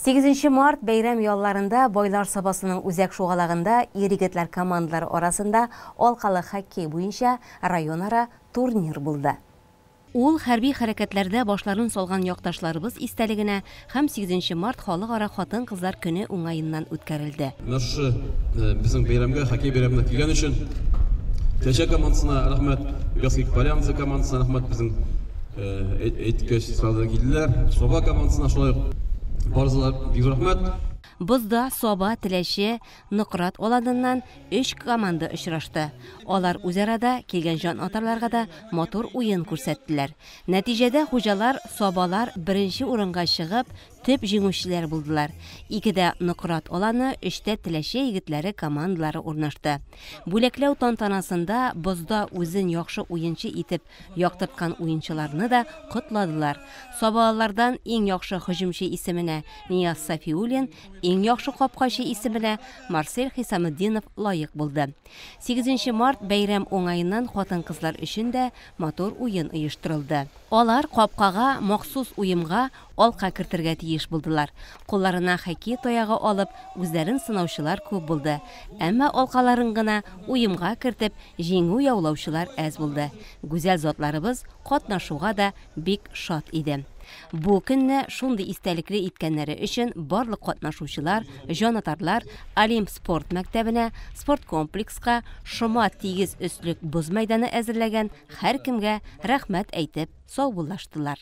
Сигезенче март бәйрәм ялларында Байлар Сабасының үзәк шугалагында ир-егетләр командалары арасында алкалы хоккей буенча районара турнир булды. Ул хәрби хәрәкәтләрдә башларын салган якташларыбыз истәлегенә һәм сигезенче март халыкара хатын-кызлар көне уңаеннан үткәрелде. Менә шушы безнең бәйрәмгә, хоккей бәйрәменә килгән өчен Тәҗә командасына рәхмәт, Вязкик Полянцы командасына рәхмәт, безнең әйткәч сразу килделәр. Соба командасына шулай ук барысына бик зур рәхмәт. Бозда Соба, Теләче, Нократ аланыннан өч команда очрашты. Алар үзара да, килгән җанатарларга да матур уен күрсәттеләр. Нәтиҗәдә хуҗалар Собалар беренче урынга чыгып, Төп җиңүчеләр булдылар. Икедә Нократ Аланы, өчтә Теләче егетләре командалары урнашты. Бүләкләү тантанасында бозда үзен яхшы уенчы итеп яктырткан уенчыларны да котладылар. Сабалылардан иң яхшы һөҗүмче исеменә Нияз Сафиуллин, иң яхшы капкачы исеменә Марсель Хисаметдинов лаек булды. Сигезенче март бәйрәм уңаеннан хатын-кызлар өчен дә матур уен оештырылды. Алар капкага махсус уемга Алка кертергә тиеш булдылар. Кулларына хоккей таягы алып, үзләрен сынаучылар күп булды. Әмма алкаларын гына уемга кертеп, җиңү яулаучылар әз булды. Гүзәл затларыбыз катнашуга да бик шат иде. Бу көнне шундый истәлекле иткәннәре өчен барлык катнашучылар, җанатарлар Олимп спорт мәктәбенә, спорткомплекска, шома тигез өслек боз мәйданы әзерләгән һәркемгә рәхмәт әйтеп саубуллаштылар.